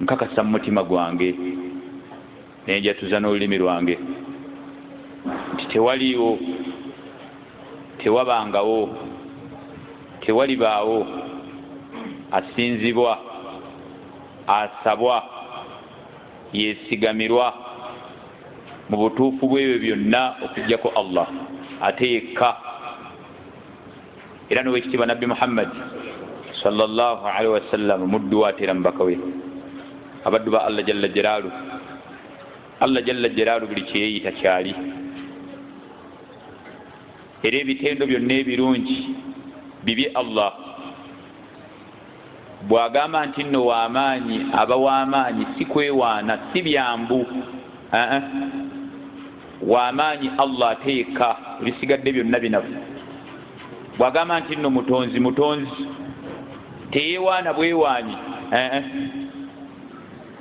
nkakasa mu mutima gwange nenjatuza n'olulimi lwange nti tewaliiwo tewabangawo tewalibaawo asinzibwa asabwa yesigamirwa mu butuufu bw'ebyo byonna okujjako allah ate yekka era nowekitiibwa nabbi muhammadi salllahu alaihi wasallama muddu wateera mubaka we abaddu ba allah jalla jalaalu allah jalla jalaalu buli kyeyeyita kyali era ebitendo byonna ebirungi bibye allah bw'agamba nti nno w'amaanyi aba w'amaanyi si kwewaana si byambu aa w'amaanyi allah ate yekka ebisigadde byonna binafu bw'agamba nti nno mutonzi mutonzi teyewaana bwewaanyi aa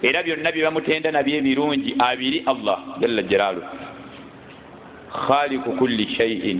era byonna bye bamutenda nabyo ebirungi abiri allah jalla jalaalu khaliku kulli shaiin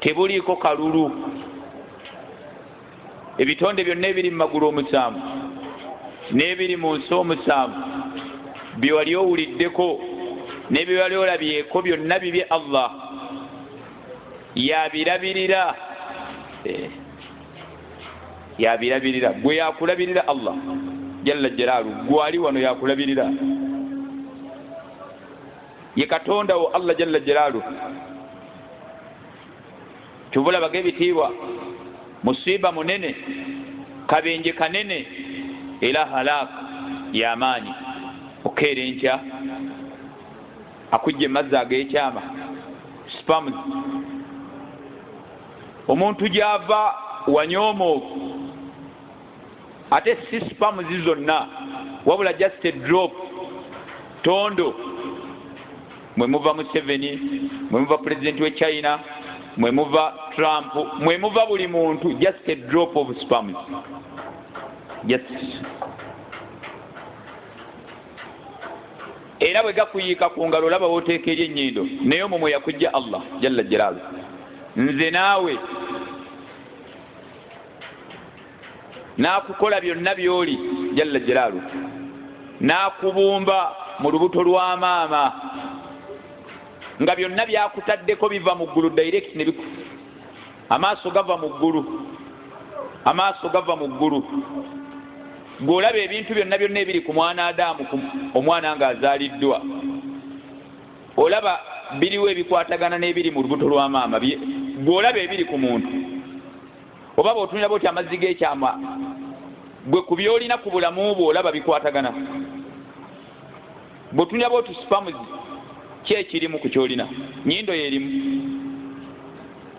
tebuliiko kalulu ebitonde byonna ebiri mu magulu omusanvu n'ebiri mu nsi omusanvu bye wali owuliddeko n'ebyo wali olabyeko byonna bibye allah yabirabirira eh, yabirabirira gwe yakulabirira allah jalla jalaalu gwali wano yakulabirira ye katonda wo allah jalla jalaalu kyovulabaga ebitiibwa musiiba munene kabenje kanene era halaaka yamaanyi okukeera enkya akujja emazzi ag'ekyama spams omuntu gyava wanyoomoovu ate si spamuzi zonna wabula just a drop tondo mwemuva museveni mwemuva pulezidenti we china mwemuva trump mwemuva buli muntu just a drop of spamuzi just era bwe gakuyiika ku ngalo olaba woteeka eri ennyindo naye omwo mwe yakujja allah jalla jalaalu nze naawe n'akukola byonna by'oli jalla jalaalu n'akubumba mu lubuto lwa maama nga byonna byakutaddeko biva mu ggulu direct ne biku amaaso gava mu ggulu amaaso gava mu ggulu gweolaba ebintu byonna byonna ebiri ku mwana adaamu omwana nga azaaliddwa olaba biriwo ebikwatagana n'ebiri mu lubuto lwa maama gweolaba ebiri ku muntu oba bwotunira bwoti amazzi gekyama gwe ku byolina ku bulamu bwo olaba bikwatagana bwotunira bwoti spamuzi ki ekirimu ku kyolina nyindo yerimu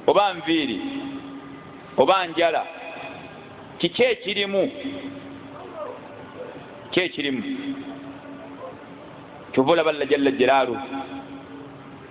oba nviiri oba njala kiki ekirimu ki ekirimu kyova olaba lla jalla jalaalu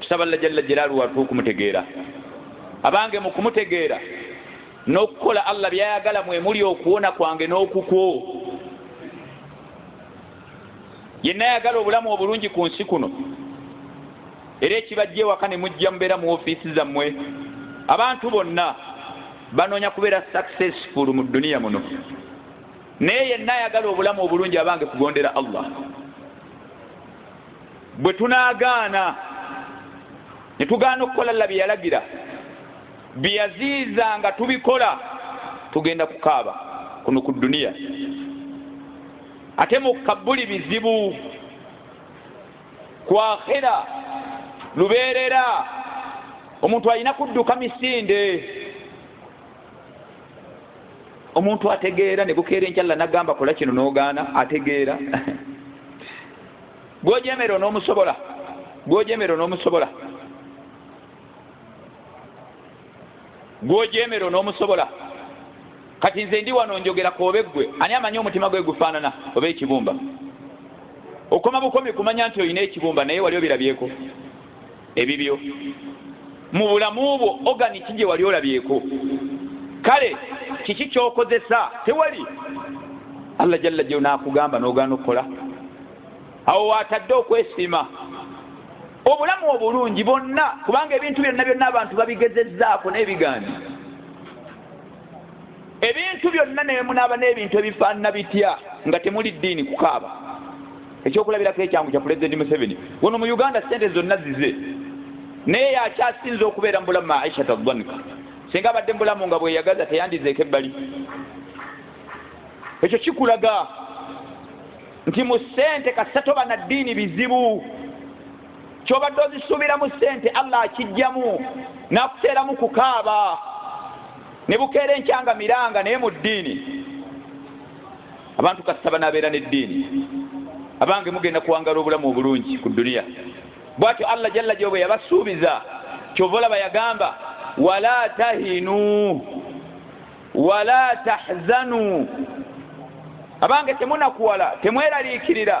tusaba lla jalla jalaalu watu okumutegeera abange mu kumutegeera n'okukola allah byayagala mwe muli okuwona kwange n'okukwo yenna yagala obulamu obulungi ku nsi kuno era ekibajja ewaka ne mujja mubeera mu ofiisi zammwe abantu bonna banoonya kubeera successful mu duniya muno naye yenna ayagala obulamu obulungi abange kugondera allah bwe tunaagaana ne tugaana okukola lla bye yalagira bye yaziiza nga tubikola tugenda kukaaba kuno ku dduniya ate mukabbuli bizibu kwakhira lubeerera omuntu alina kudduka misinde omuntu ategeera ne gukeera enkyalla nagamba kola kino n'ogaana ategeera gwojemera onomusobola gwojemera onomusobola gwojemera onomusobola kati nze ndi wano njogera koobe ggwe ani amanyi omutima gwe gufaanana oba ekibumba okoma bukomi kumanya nti olina ekibumba naye wali obirabyeko ebibyo mu bulamu bwo oganiki gye wali olabyeko kale kiki kyokozesa tewali allah jalla jeo nakugamba nogaana okukola awo watadde okwesiima obulamu obulungi bonna kubanga ebintu byonna byonna abantu babigezezaako naye bigaani ebintu byonna ne bemunaaba n'ebintu ebifaanana bitya nga temuli ddiini kukaaba ekyokulabirako ekyangu kya pulezidenti museveni wano mu uganda sente zonna zize naye yakyasinza okubeera mu bulamu aisha tadhanika singa abadde mubulamu nga bweyagaza teyandizeeko ebbali ekyo kikulaga nti mu sente kasatoba na ddiini bizibu kyobadde ozisuubiramu ssente allah akijjamu nakuteeramu kukaaba ne bukeera enkyanga miranga naye mu ddiini abantu kasita banaabeera n'eddiini abange mugenda kuwangala obulamu obulungi ku duniya bwatyo allah jalla gyoba yabasuubiza kyova olaba yagamba wala tahinu wala tahzanu abange temunakuwala temweraliikirira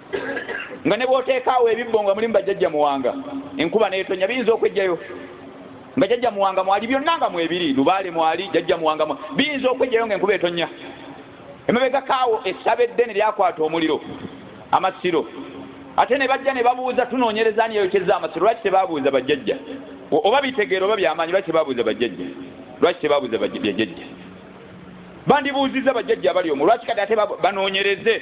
nga ne bwoteekaawo ebibbo nga mulimu bajjajja muwanga enkuba neetonya biyinza okwejjayo nga jajja muwanga mwali byonna nga mwebiri lubaale mwali jajja muwanga biyinza okwejjayo nga enkuba etonya emabega kaawo essaba eddene lyakwata omuliro amasiro ate ne bajja ne babuuza tunoonyereza ani yayokyeza amasiro lwaki tebabuuza bajjajja oba bitegeera oba byamaanyi lwaki tebabuuza bajjajja lwaki tebabuuza bajjajja bandibuuzizza bajjajja abali omu lwaki kati ate banoonyereze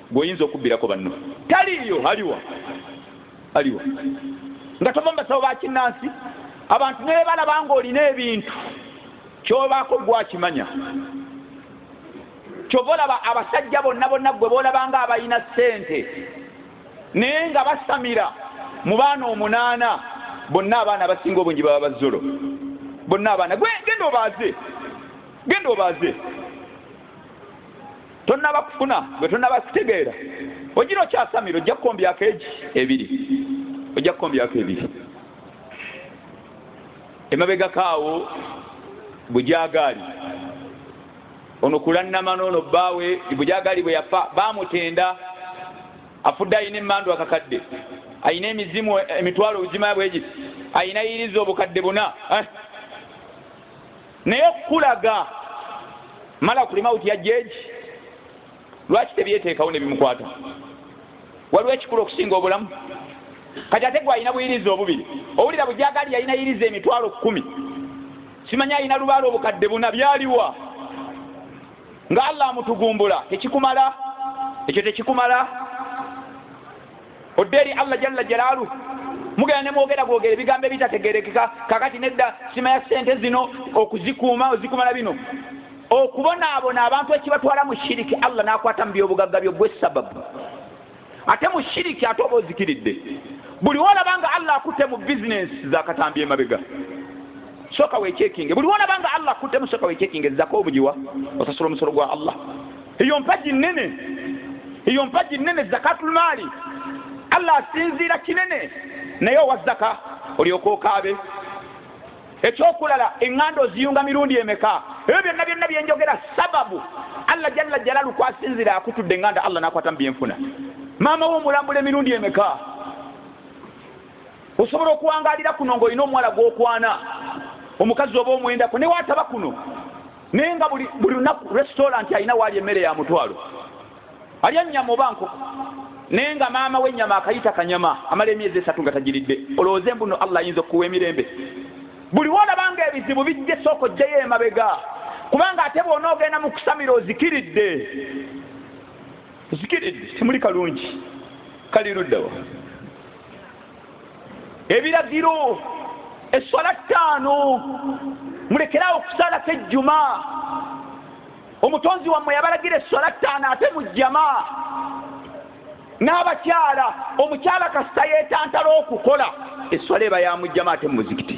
Gw'oyinza okubbirako banno taliiyo. Aliwa? Aliwa? Nga tova mu basawo ba kinnansi, abantu ne bwe balaba ng'olina ebintu, ky'obaako ggwe akimanya. Ky'ova olaba abasajja bonna bonna ggwe b'olaba ng'abalina ssente naye nga basamira mu baana omunaana, bonna abaana abasinga obungi baba bazzolo. Bonna abaana. Gwe genda obaaze. Genda obaaze. tonnaba kufuna gwe tonnaba kitegeera ogira okyasamira ojja kukombyako egi ebiri ojja kukombyako ebiri emabegako awo bujagaali ono kulannama noono bbaawe bujagaali bwe yafa baamutenda afudde alina emmandu akakadde alina emizimu emitwalo obuzima bwegiti alina yiriza obukadde buna eh? naye okukulaga mala kuli mawuti ya jeji lwaki tebyeteekawo ne bimukwata waliwo ekikulu okusinga obulamu kati ate gwalina buyiriza obubiri owulira bujagaali yalina yiriza emitwalo kkumi simanya alina lubaala obukadde buna byaliwa nga allah amutugumbula tekikumala ekyo tekikumala odde eri allah jalla jalaalu mugenda ne mwogera bwogera ebigambo ebitategerekeka kakati nedda sima ya sente zino okuzikuuma ozikuuma na bino okubonaabona abantu ekibatwala mu shiriki allah n'akwata mu byobugagga byo gwe sababu ate mu shiriki ate oba ozikiridde buli wolaba nga allah akutte mu bizinensi zakatambi emabega soka wechekinge buli wona banga allah kutemu soka wechekinge zako obujiwa osasula omusolo gwa allah eyo mpagi nnene eyo mpagi nnene zakatulmaali allah asinziira kinene naye owa zaka olyoka okaabe ekyokulala eŋŋanda oziyunga mirundi emeka ebyo byonna byonna byenjogera sababu allah jalla jalalu kwasinzira akutudde eŋŋanda allah nakwata mu byenfuna maama wo omulambula emirundi emeka osobola okuwangalira kuno ngaolina omuwala gwokwana omukazi oba omwendako newaataba kuno naye nga buli lunaku restauranti alina waali emmere ya mutwalo alya nnyama oba nkoko naye nga maama w'ennyama akayita kanyama amala emyezi esatu nga tagiridde olowooza embuno allah ayinza okukuwa emirembe buli wolabanga ebizibu bijje sooka ojjeyo emabega kubanga ate bwona ogenda mu kusamira ozikiridde ozikiridde temuli kalungi kali luddawa ebiragiro esswala ttaano mulekerawo okusalako ejjuma omutonzi wammwe yabalagira esswala ttaano ate mu jjama n'abakyala omukyala kasita yeetantala okukola esswala eba ya mujjama ate mu muzikiti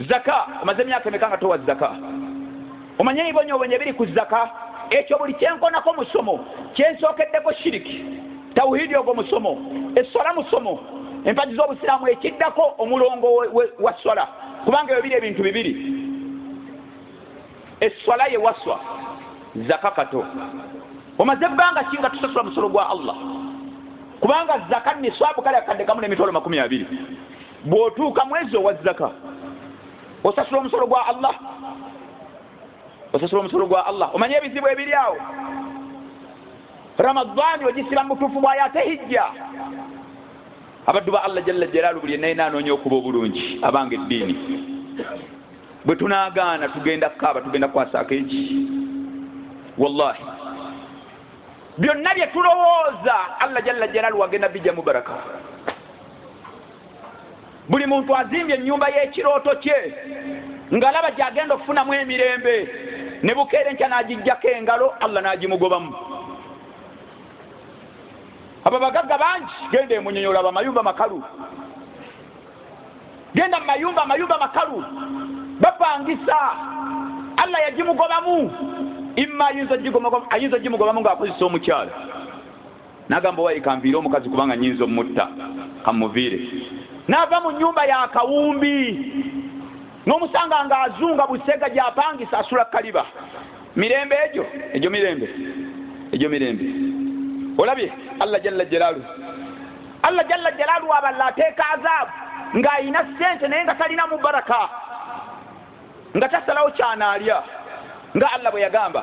zaka omaze emyaka emeka nga towa zaka omanye ebibonyobonyo ebiri ku zaka ekyo buli kyenkonako musomo kyensookeddeko shiriki tawuhidi ogwo musomo eswala musomo empagi z'obusiraamu ekiddako omulongo wa swala kubanga ebyo biri ebintu bibiri eswala ye waswa zaka kato omaze ebbanga ki nga tusasula musolo gwa allah kubanga zaka niswabu kale akadde kamu n'emitwalo makumi abiri bw'otuuka mwezi owa zaka osasula omusolo gwa allah osasula omusolo gwa allah omanye ebizibu ebiri awo ramadaani ogisiba mu butuufu bwayo ate hijja abaddu ba allah jalla jalaalu buli enaye nanoonya okuba obulungi abanga eddiini bwe tunaagaana tugenda kukaaba tugenda kwasaako eki wallahi byonna bye tulowooza allah jalla jalaalu wagenda bijja mubaraka buli muntu azimbye ennyumba y'ekirooto kye ng'alaba gy'agenda okufunamu emirembe ne bukeera enkya n'agijjako engalo allah n'agimugobamu abo bagagga bangi genda emunyonyola bamayumba makalu genda mu mayumba amayumba makalu bapangisa allah yagimugobamu imma ayinza ogimugobamu ng'akozesa omukyalo nagamba wayi kanviire omukazi kubanga nyinza omutta kamuviire nava mu nyumba ya kawumbi nomusanga nga azunga busega gyapangisa asula kaliba mirembe egyo egyo mirembe egyo mirembe olabye allah jalla jalalu allah jalla jalalu aballa ateeka azaabu ng'alina sente naye nga talina mubaraka nga tasalawo kyanaalya nga allah bwe yagamba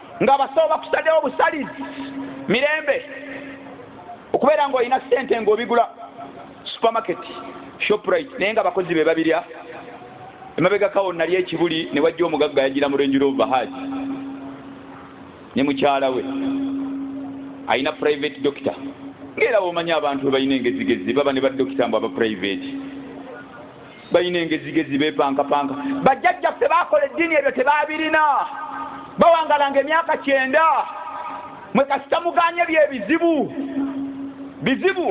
nga abasawo bakusadewo busalizi mirembe okubeera ngaolina sente ngaobigula supermarket shoprite naye nga abakozi be babirya emabegakawo nali ekibuli ne wajja omugagga yagira mu renjiro ovahaji ne mukyala we alina private doctor ngaera womanya abantu webalina engezigezi baba ne badokita mbu aba private balina engezigezi bepankapanka bajjajja ffe bakola eddiini ebyo tebabirina bawangalanga emyaka kyenda mwe kasita muganye byebizibu bizibu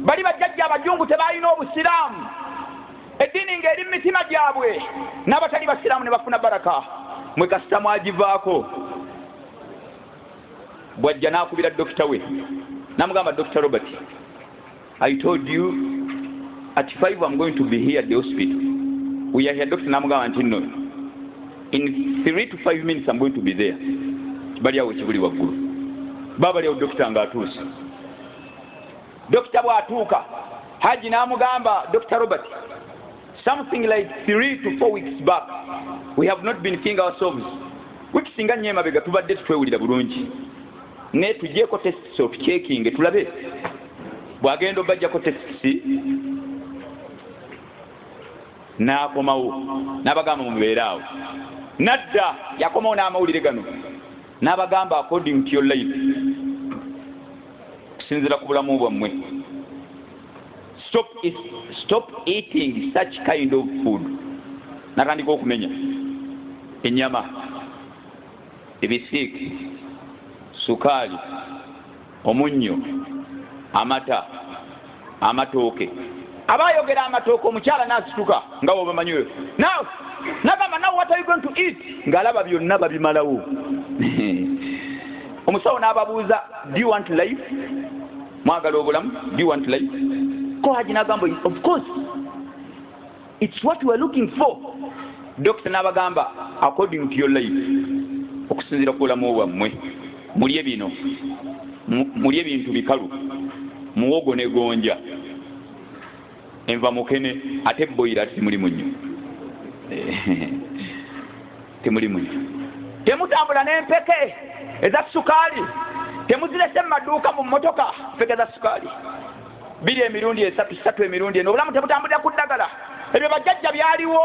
bali bajjajja abajungu tebalina obusiraamu eddiini ngaeri mu mitima gyabwe n'abatali basiraamu ne bafuna baraka mwe kasita mwagivaako bwajja n'akubira dokita we namugamba dokita robert I told you at 5 I'm going to be here at the hospital. We are here Dr. Namugamba nti no. In 3 to 5 minutes I'm going to be there. Bali awo kibuli waggulu. Baba bali awo Dr. nga atuuse. Dr. bw'atuuka Haji n'amugamba Dr. Robert something like 3 to 4 weeks back we have not been seeing ourselves wiki singa nnyo emabega tubadde tutwewulira bulungi naye tugyeko test of checking tulabe bwagenda obajjako tekisi n'akomawo n'abagamba mubeere awo nadda yakomawo n'amawulire gano n'abagamba according to your life okusinzira ku bulamu bwammwe stop, stop eating such kind of food natandika okumenya enyama ebisiiki sukaali omunnyo amata amatooke aba ayogera amatooke omukyala n'asituka nga wobamanyi oyo nawe nagamba nawe what are you going to eat ng'alaba byonna babimalawo omusawo n'ababuuza do you want life mwagala obulamu do you want life ko haji nagamba of course its what weare looking for dokita n'abagamba according to your life okusinziira ku bulamu bwammwe mulye bino mulye ebintu bikalu muwogo ne gonja enva mukene ate boyira ati simulimu nnyo temuli munywa temutambula n'empeke eza sukaali temuzirese mu maduuka mu mmotoka mpeke za sukaali biri emirundi esatu satu emirundi eno obulamu tebutambulira ku ddagala ebyo bajjajja byaliwo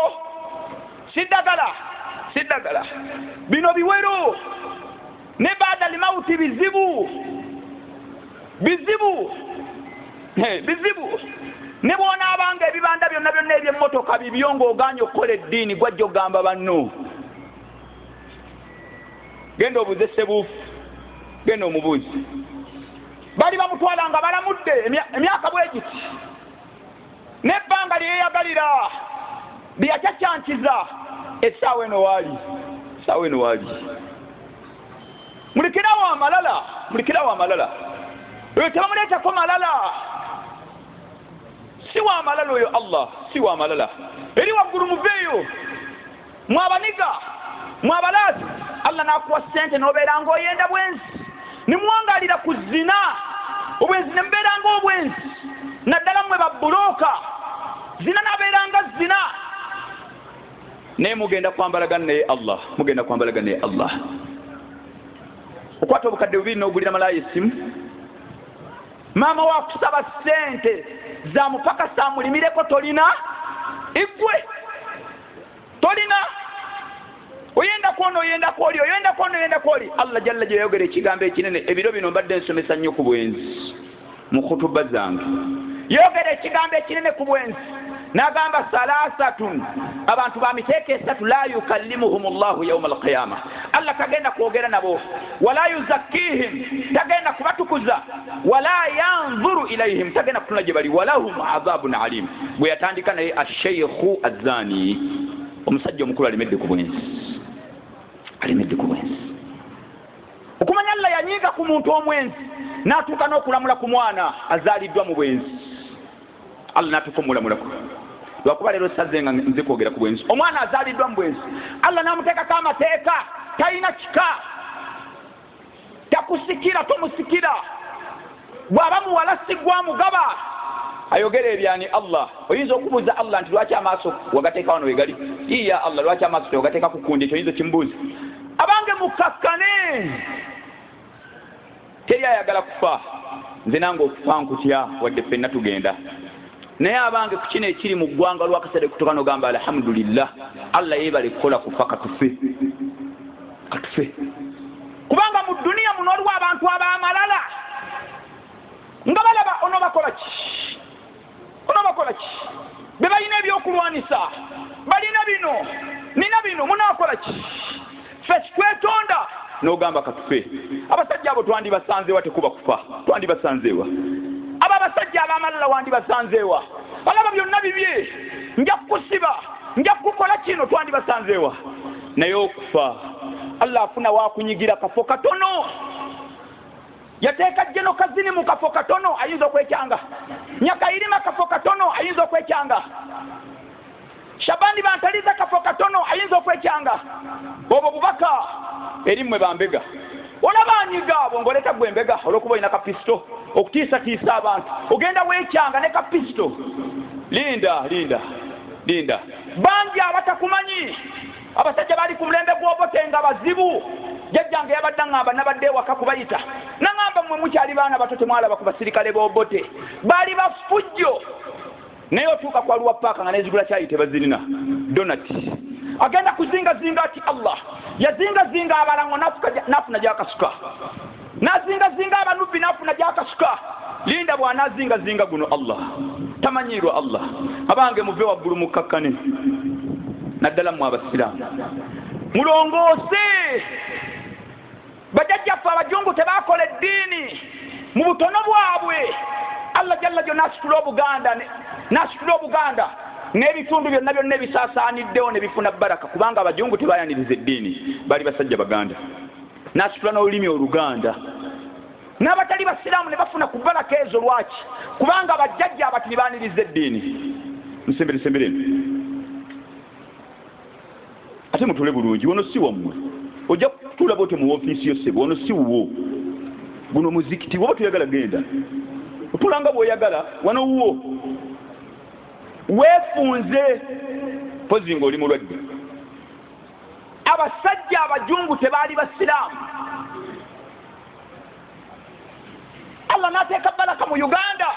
si ddagala si ddagala bino biwero ne baada limauti bizibu bizibu bizibu ne bwonaabanga ebibanda byonna byonna ebyemmotoka bibyo ng'ogaanye okukola eddiini gwajja okugamba banno genda obuuze sebuufu genda omubuuzi bali bamutwala nga balamudde emyaka bwegiti n'ebbanga lye yeeyagalira lye yacaccankiza essaawa eno waali essaawa eno waali mulikirawo amalala mulikirawo amalala oyo tebamuleetako malala si wa malala oyo allah si wa malala eri waggulu muveeyo mwe abaniga mwe abalaasi allah n'akuwa ssente n'obeera ng'oyenda bwenzi ne muwangaalira ku zina obwenzi ne mubeera ng'obwenzi naddala mmwe babbulooka zina n'abeera nga zina naye mugenda kwambalaga naye allah mugenda kwambalaga naye allah okwata obukadde bubiri n'ogulira malaaya essimu maama wakusaba ssente zamupakasa amulimireko tolina igwe tolina oyenda kwona oyenda kwoli oyenda kwona oyenda kwoli allah jalla gyeyayogera ekigambo ekinene ebiro bino mbadde nsomesa nnyo ku bwenzi mu khutuba zange yogera ekigambo ekinene ku bwenzi nagamba salasatun abantu bamiteeka esatu la yukallimuhum llahu yauma alqiyama allah tagenda kwogera nabo wala yuzakkihim tagenda kubatukuza wala yanzuru ilaihim tagenda kutunula gye bali walahum adhabun alim bwe yatandika naye asheikhu azani omusajja omukulu alemedde ku bwensi alemedde ku bwensi okumanya allah yanyiiga ku muntu omwensi n'atuuka n'okulamula ku mwana azaaliddwa mu bwensi allah natuka omulamulako lwakuba leero saze nga nze kwogera ku bwenzi omwana azaliddwa mu bwenzi allah namuteekako amateeka talina kika takusikira tomusikira bwaba muwala sigwa mugaba ayogera ebyani allah oyinza okubuuza allah nti lwaki amaaso wagateeka wano wegali iya allah lwaki amaaso tewagateeka kukundi ekyo oyinza okimubuuza abange mukakkane teri ayagala kufa nze nange okufa nkutya wadde ffenna tugenda naye abange ku kino ekiri mu ggwanga olwakaseera kutuka nogamba alhamdulillah allah yebale kukola kufa katufe katufe kubanga mu duniya muno waliwo abantu ab'amalala nga balaba ono bakola ki bona bakola ki be balina ebyokulwanisa balina bino nina bino munakola ki fe kitwetonda nogamba katufe abasajja abo twandibasanzeewa tekuba kufa twandibasanzeewa abo abasajja abamalala wandibasanzeewa alaba byonna bibye nja kukusiba nja kukukola kino twandibasanzeewa naye okufa allah afuna wakunyigira kafo katono yateeka jeno kazini mu kafo katono ayinza okwekyanga nyakayirima kafo katono ayinza okwekyanga shabani bantaliza kafo katono ayinza okwekyanga obwo bubaka eri mmwe bambega olaba anyiga abo ngaoleta gwe mbega olwokuba olina kapisito okutiisatiisa abantu ogenda weekyanga ne kapisito linda linda linda bangi abatakumanyi Abasajja baali ku mulembe gw'Obote nga bazibu. Jjajjange yabadde aŋŋamba nabadde ewaka kubayita n'aŋŋamba mmwe mukyali baana bato temwalaba ku basirikale b'Obote. Baali bafujjo. Naye otuuka ku Arua Park nga n'ezigula kyayi tebazirina, donati. Agenda kuzingazinga ati Allah yazingazinga abalango n'afuna gy'akasuka. nazingazinga abanubbi nafuna gyakasuka linda bwanazingazinga guno allah tamanyiirwa allah abange muve waggulu mukkakkane naddala mwe abasiraamu mulongoose bajajjaffe abajungu tebakola eddiini mu butono bwabwe allah jalla jo nasitula obuganda nasitula obuganda n'ebitundu byonna byonna ebisaasaaniddewo ne bifuna baraka kubanga abajungu tebayaniriza eddiini bali basajja baganda n'asitula n'olulimi oluganda n'abatali basiraamu ne bafuna ku balaka ezo lwaki kubanga abajjajja abati ne baaniriza eddiini musemberesembereno ate mutule bulungi wono si wammwe ojja kutuula bwotyo mu ofiisi yosebo wono si wuwo guno muzikiti woba toyagala genda otula nga bwoyagala wano wuwo weefunze pozi nga oli mulwadde abasajja abajungu tebaali basiraamu allah n'ateeka balaka mu uganda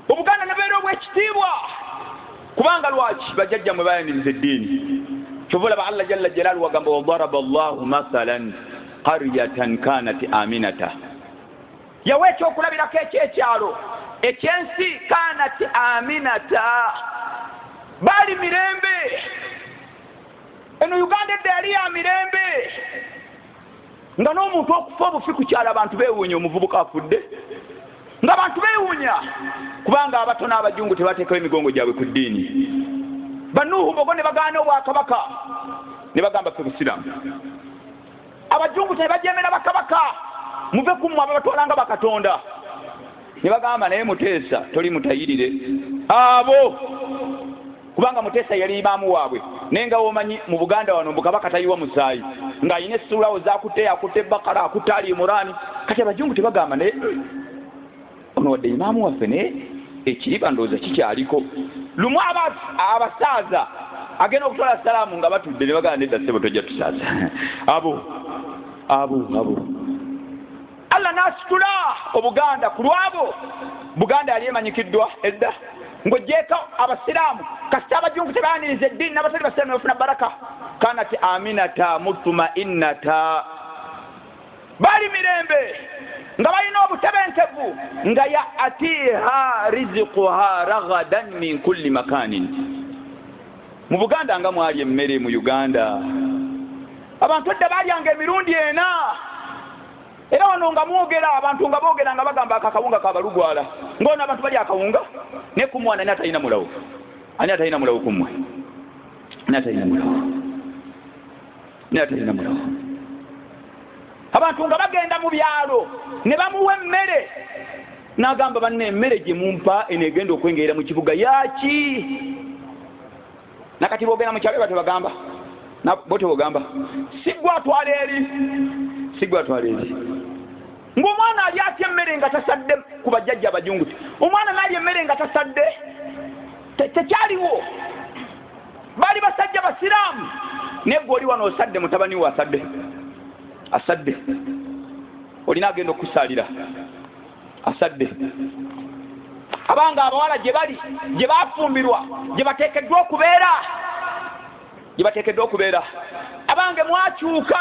obuganda nebeera obwekitiibwa kubanga lwaki bajajja mwe bayaniriza eddiini kyova olaba allah jalla jalaalu wagamba wadaraba llahu mathalan qaryatan kanat aminata Yawa ekyokulabirako eky'ekyalo eky'ensi kaanat aminata, baali mirembe. Eno Uganda edda yali ya mirembe nga n'omuntu okufa obufi ku kyalo abantu beewuunya omuvubuka afudde nga bantu beewuunya kubanga abato n'abajungu tebateekawo emigongo gyabwe ku ddiini banuuhu bogo ne bagaana obwakabaka ne bagamba fe busiraamu abajungu tebajemera bakabaka muve kumu abo batwalanga bakatonda nebagamba naye muteesa toli mutayirire abo kubanga muteesa yali imaamu waabwe naye nga womanyi mu buganda wano mbukabaka tayiwa musaayi ng'alina essuulawo zakutte yakutte bakara akutte ali imuraani kati abajungu tebagamba naye ono wadde imaamu waffe naye ekiriba ndowooza kikyaliko lumu abasaaza agenda okutwala salaamu nga batudde ne bagala nedda sebo tojja tusaaza abo abo abo allah n'asitula obuganda ku lwabo buganda yali emanyikiddwa edda ng'ogyeko abasiraamu kasita abajungu tebaaniriza eddiini n'abatali basiraamu ne bafuna baraka kanati aminata mutumainata bali mirembe nga balina obutebenkevu nga ya atiha riziquha ragadan min kulli makanin mu buganda nga mwali emmere mu uganda abantu edda balyanga emirundi ena era wano nga mwogera abantu nga boogera nga bagamba ako akawunga kabalugwala ngaono abantu bali akawunga naye ku mwana ani atalina mulawo ani atalina mulawo ku mmwe ani atalina mulawo naye atalina mulogo abantu nga bagenda mu byalo ne bamuwa emmere n'agamba banna emmere gye mumpa eno egenda okwengerera mu kibuga yaki nakati bogenda mukyalo batyo bagamba botyo bogamba sigwa atwala eri sigwa atwala eri ng'omwana ali atya emmere nga tasadde ku bajjajja abajunguti omwana naali emmere nga tasadde tekyaliwo baali basajja basiraamu naye gwe oli wano osadde mutabani we asadde asadde olina agenda okukusaalira asadde abanga abawala gye bali gye bafumbirwa gye bateekeddwa okubeera gye bateekeddwa okubeera abange mwakyuka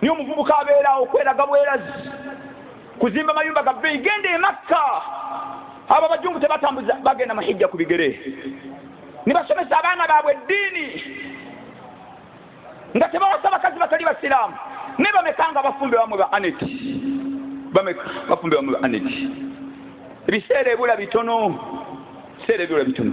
Naye omuvubuka abeerawo kweraga bwerazi, kuzimba mayumba ga bbeeyi, genda e Makka. Abo abajungu tebatambuza, bagenda mu hijja ku bigere ne basomesa abaana baabwe eddiini nga tebawasa bakazi batali basiraamu. Naye bameka nga bafumbe bamwe ba aneti, bameka bafumbe bamwe ba aneti. Ebiseera ebula bitono, ebiseera ebula bitono.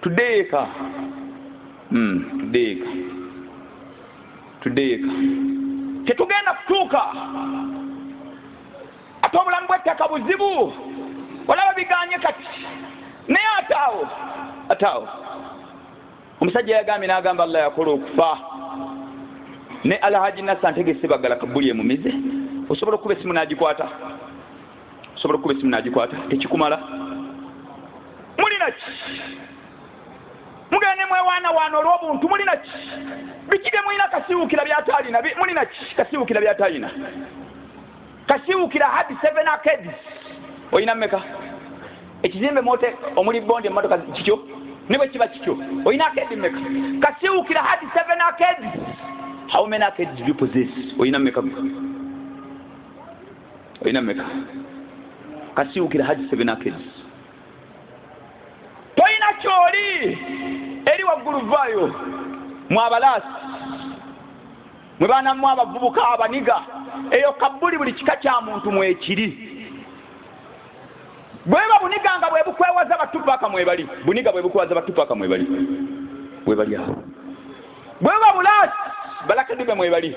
tuddeyo eka hmm, tuddeyo eka tuddeyo eka tetugenda kutuuka ate obulamu bw'ettaka buzibu olaba biganye kati naye ate awo ate awo omusajja yagambye n'agamba allah yakola okufa ne alhaji nasa ntegese bagala kabuli emumize osobola okukuba esimu n'agikwata osobola okukuba esimu nagikwata tekikumala mulina ki mugende mwewaana waana olw'obuntu mulina ki biki bye mulina kasiwukira byataalina mulina ki kasiwukira byataalina kasiwukira had seven arcades olina meka ekizimbe mote omuli bondi emmotoka kityo ne bwe kiba kityo olina arcade meka kasiwukira had seven arcades how many arcades do you possess olina meka olina meka kasiwukira haji sebenakedi tolina kyoli eri waggulu vaayo mwabalaasi mwe baanamu abavubuka abaniga eyo kabbuli buli kika kya muntu mwekiri bweba buniga nga bwebukwewaza batupaka mwebali buniga bwebukwewaza batupaka mwebali webali awo bweba bulaasi balakadibe mwebali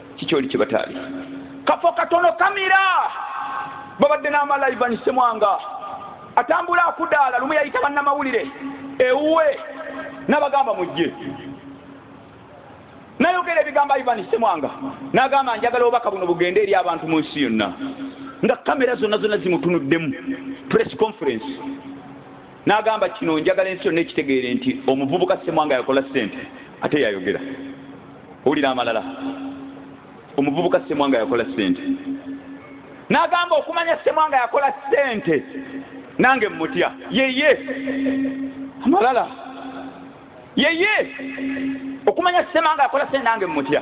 kikyoli kye bataali kafo katono kamira babadde n'amalayivani semwanga atambula akudaala lumu yayita bannamawulire ewuwe n'abagamba mujje nayogera ebigambo ivani semwanga nagamba njagala obubaka buno bugende eri abantu mu nsi yonna nga kamera zonna zonna zimutunuddemu press conference nagamba kino njagala ensi yonna ekitegeere nti omuvubuka semwanga yakola sente ate yayogera owulira amalala omuvubuka semwanga yakola sente nagamba okumanya semwanga yakola sente nange mutya yeye amalala yeye okumanya semwanga yakola sente nange mutya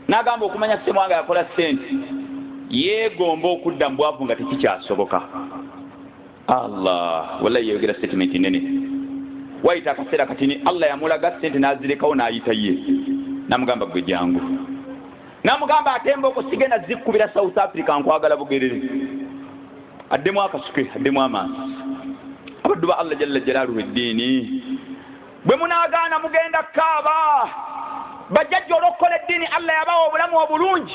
nagamba okumanya semwanga yakola sente yeegomba okudda mu bwavu nga tekikyasoboka allah wallahi yayogera statement nene wayita akaseera katini allah yamulaga sente nazirekawo nayita ye namugamba gwe jangu namugamba ate emboko sigenda zikubira south africa nkwagala bugerere addemu akasuke addemu amaasi abaddu ba allah jalla jalaluhu eddiini bwe munagaana mugenda kaaba bajjajja olwokukola eddiini allah yabawa obulamu obulungi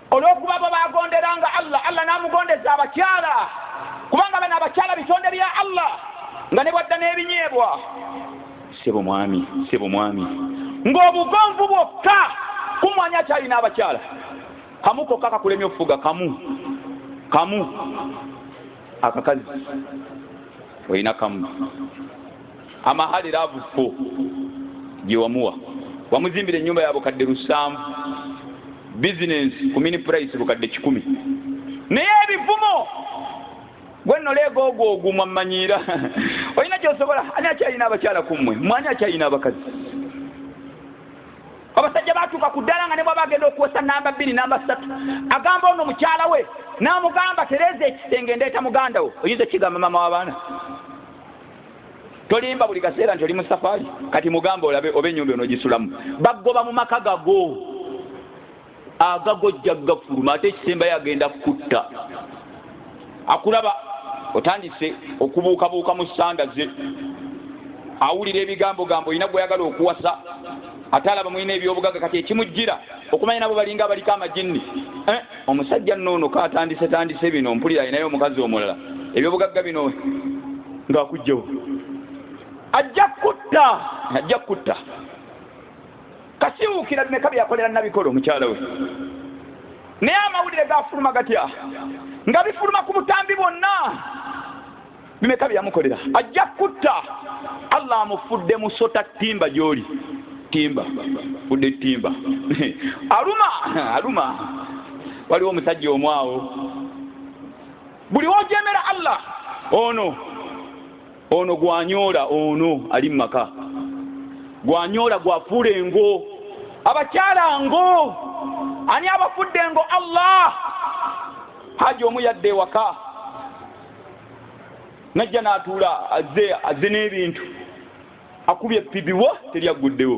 olw'okuba bo baagonderanga allah allah n'amugondeza abakyala kubanga bano abakyala bitonde bya allah nga ne bwadda n'ebinyeebwa sebo mwami sebo mwami ng'obugonvu bwokka kumwanya akyalina abakyala kamu kokka kakulemya okufuga kamu kamu akakazi olina kamu amahale laavu fo gye wamuwa wamuzimbira ennyumba ya bukadde lusanvu bizinensi ku mini purayisi bukadde kikumi naye ebivumo gwe noleega ogwo ogumwa mmanyiira olina kyosobola ani akyalina abakyala ku mmwe mwani akyalina abakazi abasajja batuuka ku ddala nga ne bwaba agenda okuwesa namba bbiri namba ssatu agamba ono mukyala we n'amugamba tereeza ekisenge ndeeta muganda wo oyinza ekigamba maama w'abaana tolimba buli kaseera nti oli mu safaali kati mugamba olabe oba enyumba onogisulamu bagoba mu maka gago agago jja gafuluma ate ekisembayo agenda kukutta akulaba otandise okubuukabuuka mu sanda ze awulira ebigambo gambo olina gweyagala okuwasa ate alaba mulina ebyobugaga kati ekimujjira okumanya nabo balinga abaliko amajinni eh? omusajja nno ono katandise tandise bino mpulira alinayo omukazi omulala ebyobugagga bino ngaakujjawo ajja kutta ajja kutta kasiwuukira bimeka byakolera nabikolo omukyala we naye amawulire gafuluma gatya nga bifuluma ku butambi bwonna bimeka byeyamukolera ajja kutta allah amufudde musota timba gyoli timba fudde timba aluma aluma waliwo omusajja omu awo buli wojemera allah ono ono gwanyoola ono ali mumaka gwanyoola gwafuula engo abakyala ngo ani abafudde ngo allah haji omu yadde ewaka najja n'atuula azze azze n'ebintu akubye epibiwa teri agguddewo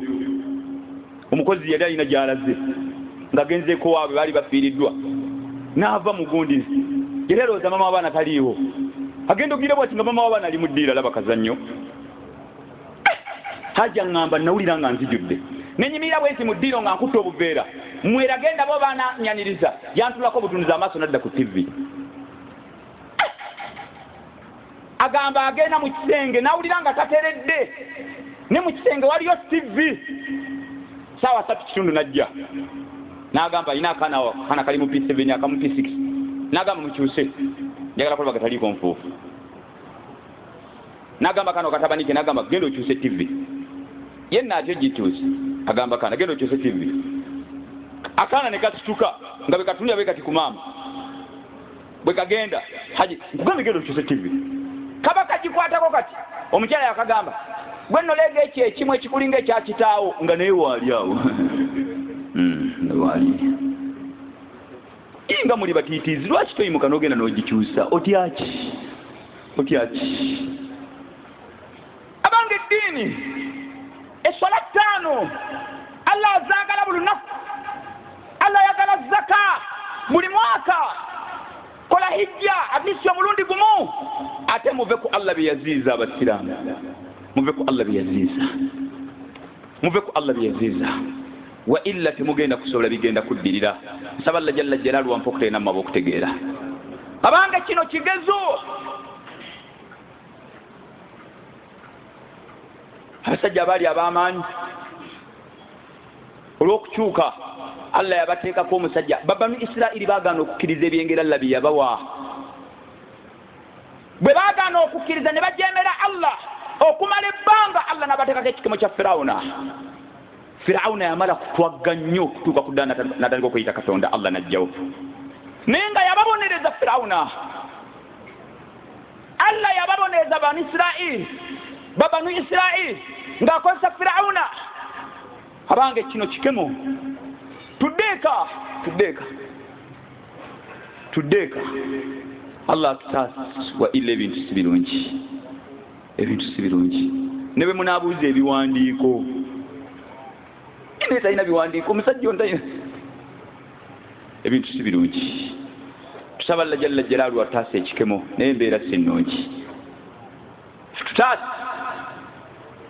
omukozi yali alina gy'alaze ng'agenzeeko waabwe baali bafiiriddwa n'ava mu gundi yali alowooza mama w'abaana taliiwo agenda okugira bwati nga mama w'abaana ali mu ddiira laba kazannyo hajja ŋŋamba nawulira nga nzijudde nenyimirira bwenti mu ddiiro nga nkutte obuveera mwera genda bo baananyaniriza yantulako obutunuza amaaso nadda ku ttivi agamba agenda mu kisenge nawulira nga tateredde ne mu kisenge waliyo tv saawa satu kitundu najja nagamba alina akaana akaana kali mu p seven akamu p six nagamba mukyuse njagala kulaba gataliiko nfuufu nagamba kano katabanike nagamba genda okyuse tv yenna atyo gituuse agamba kaana genda okyuse tv akaana ne kasituka nga bekatunira be kati ku maama bwe kagenda haji nkugambye genda okyuse tivi kaba kagikwatako kati omukyala yakagamba gwe noleega ekyo ekimu ekikulinga ekyakitaawo nga naye waali awo hmm, waali inga muli batiitiizi lwaki toyimuka nogenda nogikyusa otyaki otyaki abange eddiini eswala ttaano allah azaagala buli lunaku allah ayagala zaka buli mwaka kola hijja atisi omulundi gumu ate muve ku allah bye yaziiza abasiraamu muve ku allah bye yaziiza muve ku allah bye yaziiza wa illa temugenda kusobola bigenda kuddirira nsaba allah jalla jalaalu wampa okuteena mu maba okutegeera abange kino kigezo abasajja baali ab'amaanyi olw'okukyuka allah yabateekako omusajja babanu isirairi bagaana okukkiriza ebyengera allah bye yabawa bwe bagaana okukkiriza ne bajemera allah okumala ebbanga allah n'abateekako ekikemo kya firawuna firawuna yamala kutwagga nnyo okutuuka ku ddala natandika okuyita katonda allah n'ajjawo naye nga yababonereza firawuna allah yababoneeza banu isirairi babanu isirairi ng'akozesa firawuna abange kino kikemo tuddeeka tuddeeka tuddeeka allah atutaasa wa ila ebintu si birungi ebintu si birungi ne bwe munaabuuza ebiwandiiko naye talina biwandiiko omusajja ontayina ebintu si birungi tusaba lla jalla jalaalu ataasa ekikemo naye embeera si nnungi tutaasa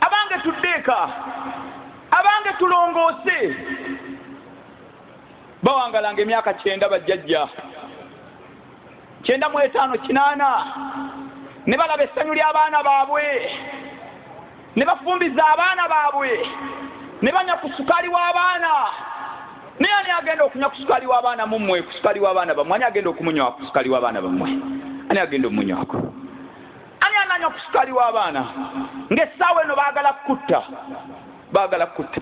abange tuddeeka abange tulongoose bawangalanga emyaka kyenda bajjajja kyenda mu etaano kinaana ne balaba essanyu ly'abaana baabwe ne bafumbiza abaana baabwe ne banya ku sukaali w'abaana naye ani agenda okunywa ku sukaali w'abaana mummwe ku sukaali w'abaana bammwe ani agenda okumunywa ku sukaali w'abaana bammwe ani agenda omunywako ani ananywa ku sukaali w'abaana ng'essaawa eno baagala kukutta baagala kukutta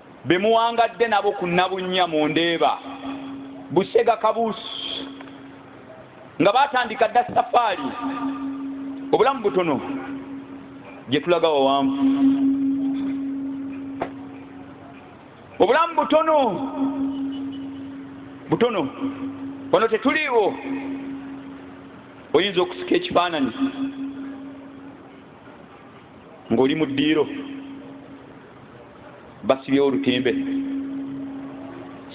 be muwangadde nabo ku nabunnya mu ndeeba busega kabuusi nga baatandika dda safaali obulamu butono gye tulaga wawanvu obulamu butono butono wano tetuliiwo oyinza okusika ekifaananyi ng'oli mu ddiiro basibyewo olutimbe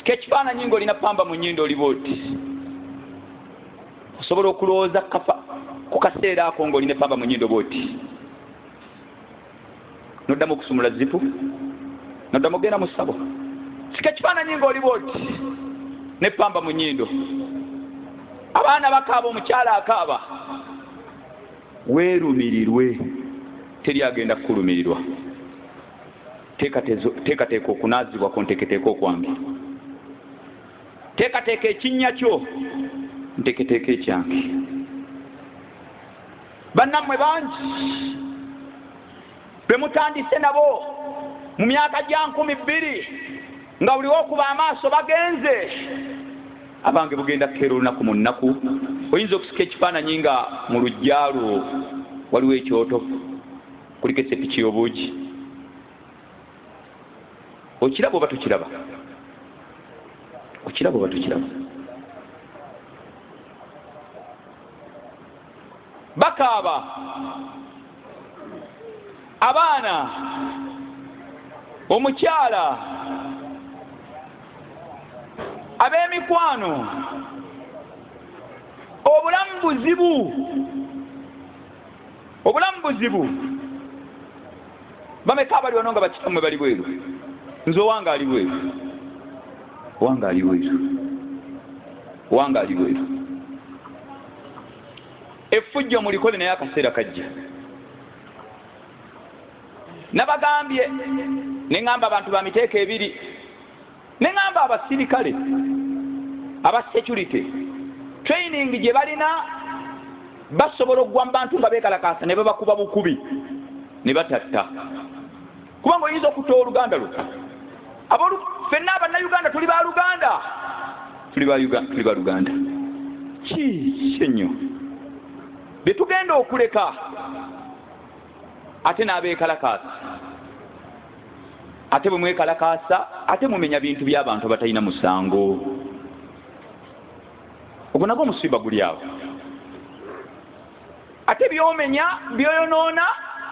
kekifaananyi nga olina pamba mu nyindo oliba oti osobola okulowooza kafa ku kaseera ako nga olina pamba mu nyindo oba oti noddamu okusumula zipu noddamu ogenda mu sabo sika ekifaananyi nga oliba oti ne pamba mu nyindo abaana bakaaba omukyala akaaba weerumirirwe teri agenda kukulumirirwa teekateeka okunaazibwa ku nteketeeka okwange teekateeka ekinnya kyo nteketeeka ekyange bannammwe bangi be mutandise nabo mu myaka gya nkumi bbiri nga buli wokuba amaaso bagenze abange bugenda kukeera olunaku mu nnaku oyinza okusika ekifaananyi nga mu lujjalo waliwo ekyoto kuliko esepiki y'obuugi okiraba oba tukiraba okiraba oba tukiraba bakaaba abaana omukyala ab'emikwano obulamu buzibu obulamu buzibu bameka abali wano nga bakitamwe bali bweru nze owange ali bweru owange ali bweru owange ali bweru effujjo mulikole naye akaseera kajja nabagambye neŋamba abantu ba miteeko ebiri neŋamba abasirikale aba security training gye balina basobola okugwa mu bantu nga beekalakaasa ne babakuba bukubi ne batatta kubanga oyinza okutta owoluganda lwo abolu fenna abannayuganda tuli ba luganda tuli ba luganda kiki ennyo bye tugenda okuleka ate n'abeekalakaasa ate bwe mwekalakaasa ate mumenya bintu by'abantu abatalina musango ogwo nagwo omusiba guli awo ate byomenya byoyonoona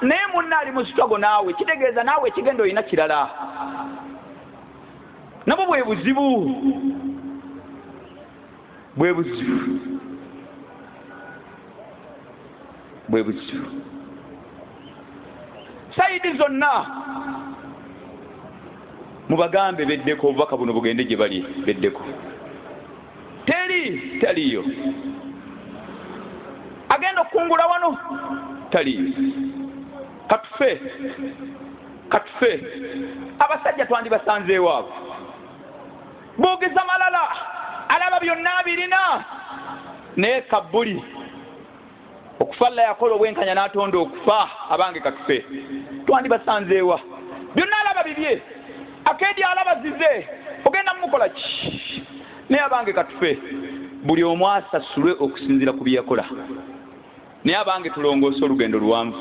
naye munna ali musitago naawe kitegeeza naawe ekigenda olina kirala nabwo bwe buzibu bwe buzibu bwe buzibu sayidi zonna mubagambe beddeko obubaka buno bugende gye bali beddeko teri taliyo agenda okukungula wano taliyo katufe katufe abasajja twandibasanzeewaabo boogeza malala alaba byonna abirina naye kabbuli okufa alla yakola obwenkanya n'atonda okufa abange katufe twandibasanzeewa byonna alaba bibye akeedi alaba zize ogenda mumukola ki naye abange katufe buli omu asasulwe okusinziira ku byeyakola naye abange tulongoose olugendo luwanvu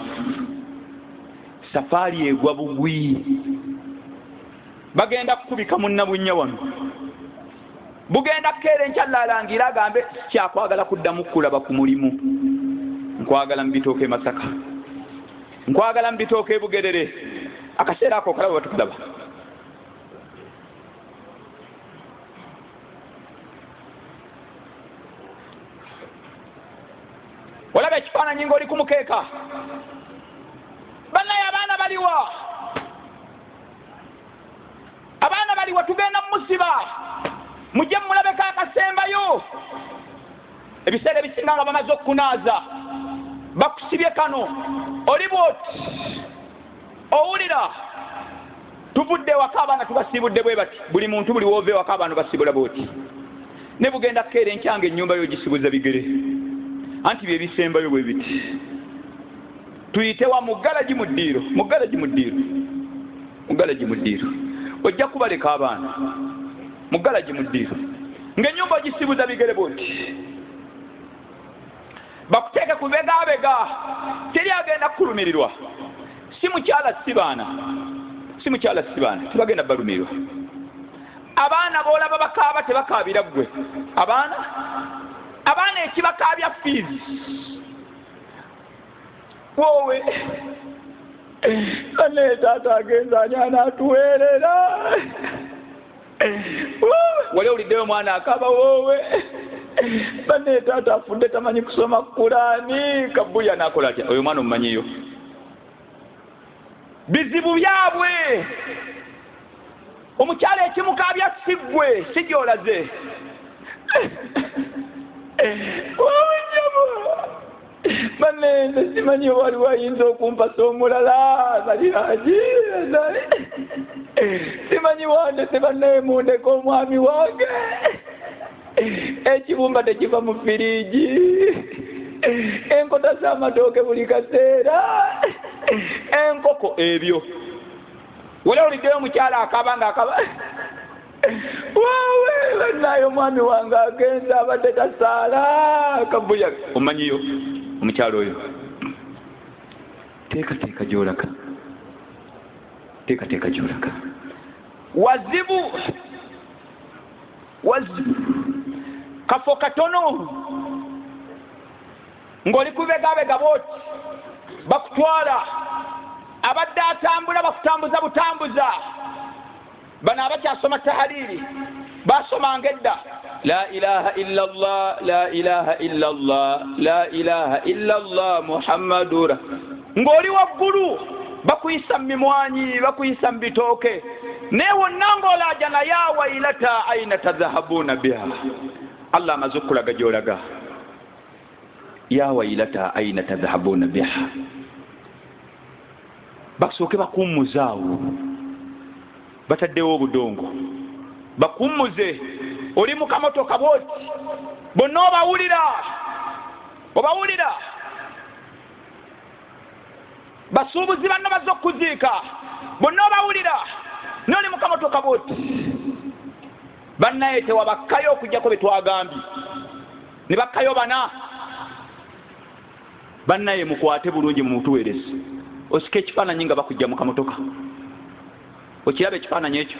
safaali egwa bugwi bagenda kukubika munnabunnya wano bugenda kukeera enkya lalangira agambe kyakwagala kuddamu kukulaba ku mulimu nkwagala mu bitooka e masaka nkwagala mu bitooka e bugerere akaseera ako okalaba batukulaba olaba ekifaananyi ngaoli ku mukeeka bannaye abaana baliwa abaana baliwa tugenda musiba mujje mulabeko akasembayo ebiseera ebisinga nga bamaze okukunaaza bakusibye kano oli bwoti owulira tuvudde ewaka abaana tubasiibudde bwe bati buli muntu buli woova ewaka abaana basiibula bwoti ne bugenda kukeera enkyanga ennyumba yo gisibuza bigere anti bye bisembayo bwe biti tuyitewa mu galagi mu ddiiro mu galagi mu ddiiro mugalagi muddiiro ojja kubaleka abaana mugalagi muddiiro ngaenyumba ogisibuza bigere bwoti bakuteeke ku begabega teri agenda kukulumirirwa si mukyala si baana si mukyala si baana tebagenda balumirirwa abaana boolaba bakaaba tebakaabira ggwe abaana abaana ekibakaabya fiizi wowe naye taata agenza ani anaatuweerera wali owuliddeyo omwana akaba woowe bane taata afudde tamanyi kusoma kulaani kabuya nakola tya oyo omwana omumanyiyo bizibu byabwe omukyala ekimukaabya siggwe si gyolaze banene simanyi wali wayinza okumpasa omulala baliragi simanyi wandese banaye mundeka omwami wange ekibumba tekiva mu firiigi enkota z'amatooke buli kaseera enkoko ebyo wali oliddeyo omukyala akaba nga akaba wawe banaye omwami wange agenza abadde tasaala kabuya omanyiyo omukyalo oyo teekateeka gyolaka teekateeka gyolaka wazibu wazibu kafo katono ng'oli kubegabega booti bakutwala abadde atambula bakutambuza butambuza bano abakyasoma tahaliiri basomanga edda la ilaha illa llah la ilaha illa llah la ilaha illa llah muhammadura ng'oli waggulu bakuyisa mu mimwanyi bakuyisa mu bitooke naye wonna ng'olaaja naye awailata aina tadhahabuuna biha allah amaze okukulaga gy'olaga yawailata aina tadhahabuuna biha basooke bakummuzaawo bataddewo obudongo bakummuze oli mu kamotoka bwoti bonna obawulira obawulira basuubuzi banno bazze okukuziika bonna obawulira noli mukamotoka bwoti bannaye tewabakkayo okujjako bye twagambye ne bakkayo bana bannaye mukwate bulungi mu mutuweerezi osika ekifaananyi nga bakujja mu kamotoka okiraba ekifaananyi ekyo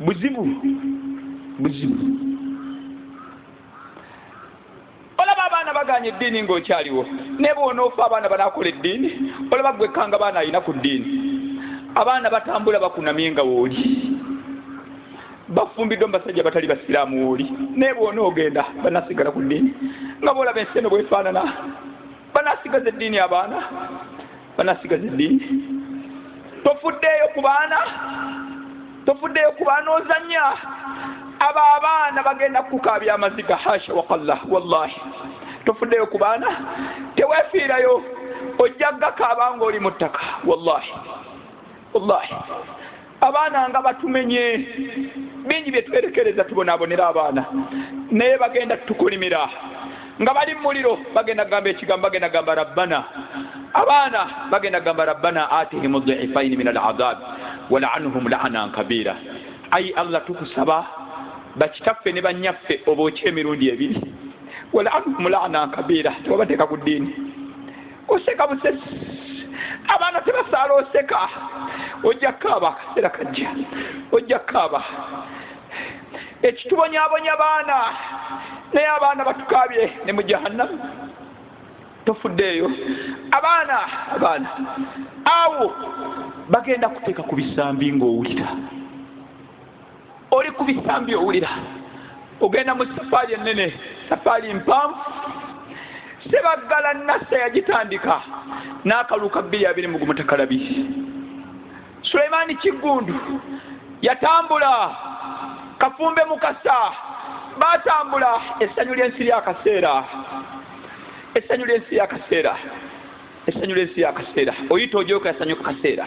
buzibu buzibu olaba abaana baganye eddiini ng'okyaliwo naye bwonoofa abaana banakola eddiini olaba gwekkanga baana alina ku ddiini abaana batambula bakunamye nga wooli bafumbiddwa mubasajja batali basiraamu wooli naye bwonoogenda banasigala ku ddiini nga boolaba ensi eno bwefaanana banasigaza eddiini abaana banasigaza eddiini tofuddeeyo ku baana tofuddeeyo ku baana ozanya abo abaana bagenda kukukaabya amaziga hasha wakallah wallahi tofuddeeyo ku baana tewefiirayo ojja gakaaba ngaoli mu ttaka wallahi wallahi abaana nga batumenye bingi byetwerekereza tubonabonera abaana naye bagenda tukolimira nga bali mumuliro bagenda gamba ekigambo bagenda gamba rabbana abaana bagenda gamba rabbana atihim dhifaini min alazab walanhum laana nkabira ayi allah tukusaba bakitaffe ne banyaffe oba oky emirundi ebiri walanhum laana nkabira tebabateeka ku ddiini oseka busesi abaana tebasaala oseka ojja kaaba akaseera kajja ojja kaaba ekitubonyabonya baana naye abaana batukaabye ne mu jahannamu tofuddeeyo abaana abaana awo bagenda kuteeka ku bisambi ng'owulira oli ku bisambi owulira ogenda mu safaali ennene safaali mpanvu sebaggala nassa yagitandika n'akalulu ka bbiri abiri mu gumutakalabi sulaimaani kiggundu yatambula kafumbe mukasa baatambula essanyu ly'ensi lyakaseera essanyu ly'ensi yakaseera essanyu ly'ensi yakaseera oyita ojoka essanyu ku kaseera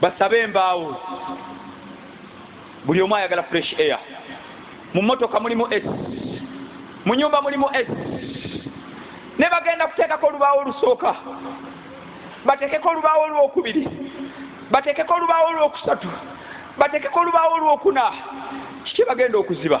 basabe embaawo buli omu ayagala fresh air mu motoka mulimu s mu nyumba mulimu s ne bagenda kuteekako olubaawo olusooka bateekeko olubaawo olwokubiri bateekeko olubaawo olwokusatu bateekeko olubaawo olwokuna kiki bagenda okuziba